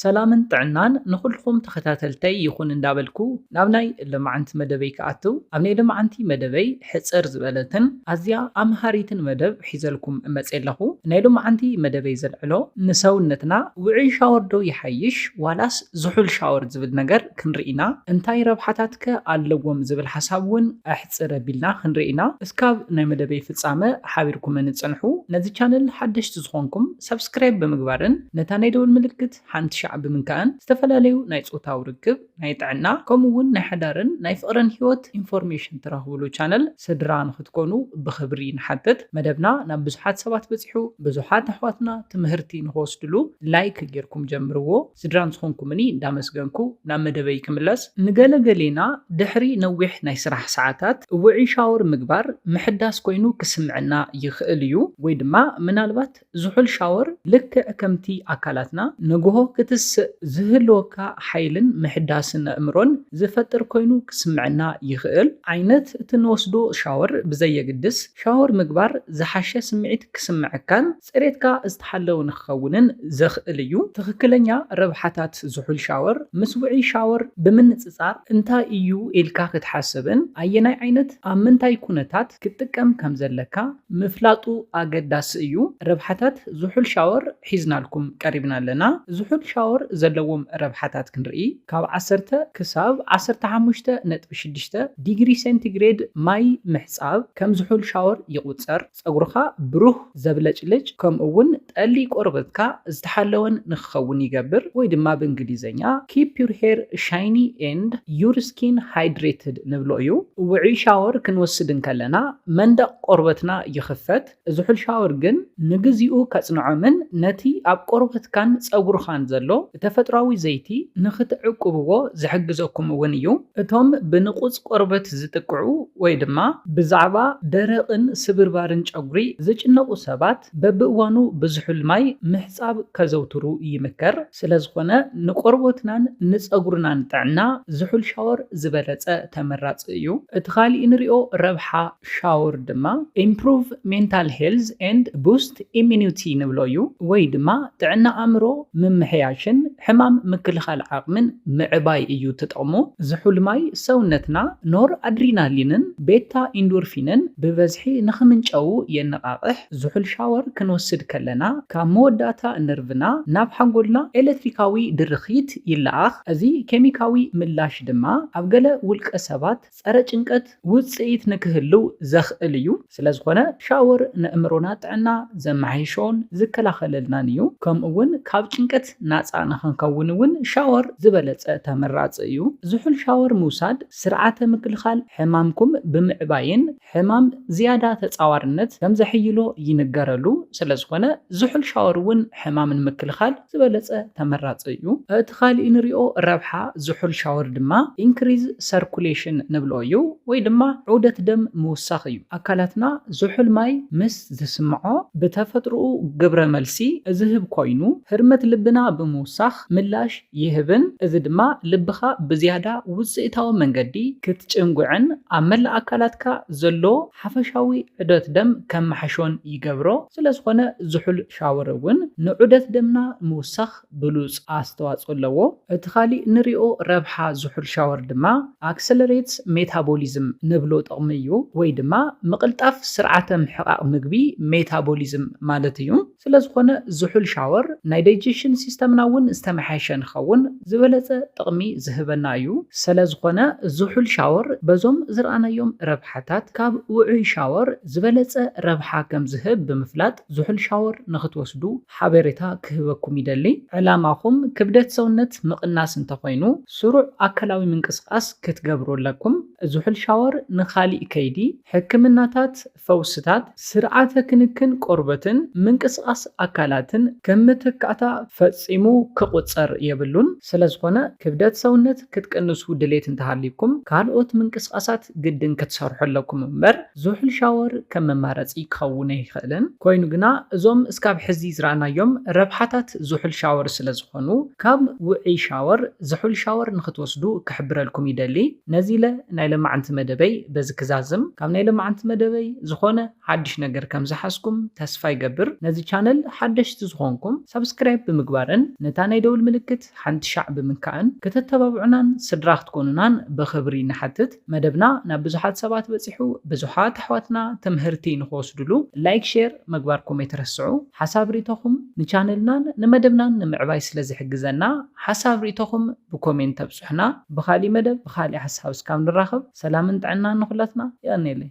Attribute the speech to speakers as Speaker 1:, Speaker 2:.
Speaker 1: ሰላምን ጥዕናን ንኹልኹም ተኸታተልተይ ይኹን እንዳበልኩ ናብ ናይ ሎማዓንቲ መደበይ ክኣትው ኣብ ናይ ሎማዓንቲ መደበይ ሕጽር ዝበለትን ኣዝያ ኣምሃሪትን መደብ ሒዘልኩም መጼ ኣለኹ ናይ ሎማዓንቲ መደበይ ዘልዕሎ ንሰውነትና ውዑይ ሻወር ዶ ይሓይሽ ዋላስ ዝሑል ሻወር ዝብል ነገር ክንርኢ ኢና እንታይ ረብሓታት ከ ኣለዎም ዝብል ሓሳብ ውን ኣሕጽር ኣቢልና ክንርኢ ኢና እስካብ ናይ መደበይ ፍጻመ ሓቢርኩመኒ ጽንሑ ነዚ ቻነል ሓደሽቲ ዝኾንኩም ሳብስክራይብ ብምግባርን ነታ ናይ ደወል ምልክት ሓንቲ ሻዕ ብምንካእን ዝተፈላለዩ ናይ ፆታዊ ርክብ፣ ናይ ጥዕና ከምኡ እውን ናይ ሓዳርን ናይ ፍቕርን ህይወት ኢንፎርሜሽን ትረኽብሉ ቻነል ስድራ ንኽትኮኑ ብኽብሪ ንሓትት። መደብና ናብ ብዙሓት ሰባት በፂሑ ብዙሓት ኣሕዋትና ትምህርቲ ንኽወስድሉ ላይክ ገይርኩም ጀምርዎ። ስድራን ዝኾንኩምኒ እንዳመስገንኩ ናብ መደበይ ክምለስ። ንገለ ገሌና ድሕሪ ነዊሕ ናይ ስራሕ ሰዓታት ውዑይ ሻወር ምግባር ምሕዳስ ኮይኑ ክስምዐና ይኽእል እዩ። ወይ ድማ ምናልባት ዝሑል ሻወር ልክዕ ከምቲ ኣካላትና ንግሆ ክትስእ ዝህልወካ ሓይልን ምሕዳስን ኣእምሮን ዝፈጥር ኮይኑ ክስምዐና ይኽእል። ዓይነት እቲ እንወስዶ ሻወር ብዘየግድስ ሻወር ምግባር ዝሓሸ ስምዒት ክስምዐካን ጽሬትካ ዝተሓለወ ንክኸውንን ዘኽእል እዩ። ትኽክለኛ ረብሓታት ዝሑል ሻወር ምስ ውዑይ ሻወር ብምንጽጻር እንታይ እዩ ኢልካ ክትሓስብን ኣየናይ ዓይነት ኣብ ምንታይ ኩነታት ክትጥቀም ከም ዘለካ ምፍላጡ ኣገዳሲ እዩ። ረብሓታት ዝሑል ሻወር ሒዝናልኩም ቀሪብና ኣለና። ዝሑል ሻወር ዘለዎም ረብሓታት ክንርኢ ካብ ዓሰርተ ክሳብ ዓሰርተ ሓሙሽተ ነጥቢ ሽዱሽተ ዲግሪ ሴንቲግሬድ ማይ ምሕጻብ ከም ዝሑል ሻወር ይቑጸር። ጸጉርኻ ብሩህ፣ ዘብለጭልጭ፣ ከምኡ'ውን ጠሊ ቆርበትካ ዝተሓለወን ንክኸውን ይገብር፣ ወይ ድማ ብእንግሊዝኛ Keep your hair shiny and your skin hydrated ንብሎ እዩ። ውዑይ ሻወር ክንወስድ እንከለና መንደቕ ቆርበትና ይኽፈት፣ ዝሑል ሻወር ግን ንግዚኡ ከጽንዖምን ነቲ ኣብ ቆርበትካን ጸጉርኻን ዘሎ ብተፈጥሮኣዊ ዘይቲ ንኽትዕቁብዎ ዝሕግዘኩም እውን እዩ። እቶም ብንቑጽ ቆርበት ዝጥቅዑ ወይ ድማ ብዛዕባ ደረቕን ስብርባርን ጨጉሪ ዝጭነቑ ሰባት በብእዋኑ ብዝሑል ማይ ምሕጻብ ከዘውትሩ ይምከር። ስለዝኾነ ንቆርቦትናን ንጸጉርናን ጥዕና ዝሑል ሻወር ዝበለጸ ተመራጺ እዩ። እቲ ካሊእ ንሪኦ ረብሓ። ሻወር ድማ ኢምፕሩቭ ሜንታል ሄልዝ ኤንድ ቡስት ኢሚኒውቲ ንብሎ እዩ ወይ ድማ ጥዕና ኣእምሮ ምምሕያሽን ሕማም ምክልኻል ዓቕምን ምዕባይ እዩ እቲ ጥቕሙ። ዝሑል ማይ ሰውነትና ኖር ኣድሪናሊንን ቤታ ኢንዶርፊንን ብበዝሒ ንኽምንጨዉ የነቓቕሕ። ዝሑል ሻወር ክንወስድ ከለና ካብ መወዳእታ ነርቭና ናብ ሓንጎልና ኤለትሪካዊ ድርኺት ይለኣኽ። እዚ ኬሚካዊ ምላሽ ድማ ኣብ ገለ ውልቀ ሰባት፣ ጸረ ጭንቀት ውጽኢት ንክህልው ዘኽእል እዩ፣ ስለዝኾነ ሻወር ነእምሮና ጥዕና ዘመሓይሾን ዝከላኸለልናን እዩ፣ ከምኡ እውን ካብ ጭንቀት ናጻ ንክንከውን እውን ሻወር ዝበለጸ ተመራጺ እዩ፣ ዝሑል ሻወር ምውሳድ ስርዓተ ምክልኻል ሕማምኩም ብምዕባይን፣ ሕማም ዝያዳ ተጻዋርነት ከም ዘሕይሎ ይንገረሉ፣ ስለዝኾነ ዝሑል ሻወር እውን ሕማም ንምክልኻል ዝበለጸ ተመራጺ እዩ። እቲ ካልእ እንሪኦ ረብሓ ዝሑል ሻወር ድማ Increase Circulation ንብሎ እዩ ወይ ድማ ዑደት ደም ምውሳኽ እዩ። ኣካላትና ዝሑል ማይ ምስ ዝስምዖ ብተፈጥሮኡ ግብረ መልሲ ዝህብ ኮይኑ ህርመት ልብና ብምውሳኽ ምላሽ ይህብን፣ እዚ ድማ ልብኻ ብዝያዳ ውጽኢታዊ መንገዲ ክትጭንጕዕን ኣብ መላእ ኣካላትካ ዘሎ ሓፈሻዊ ዑደት ደም ከመሓሾን ይገብሮ። ስለዝዀነ ዝሑል ሻወር እውን ንዑደት ደምና ምውሳኽ ብሉጽ ኣስተዋጽኦ ኣለዎ። እቲ ካልእ ንሪኦ ረብሓ ዝሑል ሻወር ድማ Accelerates Metabolism ንብሎ ጥቕሚ እዩ፣ ወይ ድማ ምቕልጣፍ ስርዓተ ምሕቓቕ ምግቢ፣ ሜታቦሊዝም፣ ማለት እዩ። ስለዝኾነ ዝሑል ሻወር ናይ ዳይጀሽን ሲስተምና እውን ዝተመሓየሸ ንኸውን ዝበለፀ ጥቕሚ ዝህበና እዩ። ሰለዝኾነ ዝሑል ሻወር በዞም ዝርኣናዮም ረብሓታት ካብ ውዑይ ሻወር ዝበለፀ ረብሓ ከምዝህብ ብምፍላጥ ዝሑል ሻወር ንክትወስዱ ሓቤሬታ ክህበኩም ይደሊ። ዕላማኹም ክብደት ሰውነት ምቕናስ እንተኾይኑ ስሩዕ ኣካላዊ ምንቅስቓስ ክትገብሩ ኣለኩም። ዝሑል ሻወር ንካሊእ ከይዲ ሕክምናታት፣ ፈውስታት፣ ስርዓተ ክንክን ቆርበትን ምንቅስቓስ ኣካላትን ከም መተካእታ ፈጺሙ ክቑጸር የብሉን። ስለዝኾነ ክብደት ሰውነት ክትቅንሱ ድሌት እንተሃልዩኩም ካልኦት ምንቅስቓሳት ግድን ክትሰርሑ ኣለኩም እምበር ዝሑል ሻወር ከም መማረጺ ክኸውን ኣይኽእልን። ኮይኑ ግና እዞም እስካብ ሕዚ ዝረኣናዮም ረብሓታት ዝሑል ሻወር ስለዝኾኑ ካብ ውዑይ ሻወር ዝሑል ሻወር ንኽትወስዱ ክሕብረልኩም ይደሊ። ነዚ ኢለ ናይ ለማዕንቲ መደበይ በዚ ክዛዝም ካብ ናይ ለማዕንቲ መደበይ ዝኮነ ሓድሽ ነገር ከም ዝሓዝኩም ተስፋ ይገብር ነዚ ቻነል ሓደሽቲ ዝኮንኩም ሳብስክራይብ ብምግባርን ነታ ናይ ደውል ምልክት ሓንቲ ሻዕ ብምንካእን ክተተባብዑናን ስድራ ክትኮኑናን ብክብሪ ንሓትት መደብና ናብ ብዙሓት ሰባት በጺሑ ብዙሓት ኣሕዋትና ትምህርቲ ንክወስድሉ ላይክ ሼር ምግባርኩም ኣይትረስዑ ሓሳብ ሪኢቶኹም ንቻነልናን ንመደብናን ንምዕባይ ስለ ዝሕግዘና ሓሳብ ሪኢቶኹም ብኮሜንት ተብጹሑና ብካሊእ መደብ ብካሊእ ሓሳብ እስካብ ንራከብ ሰላምን ጥዕናን ንኩላትና የቀኔለይ።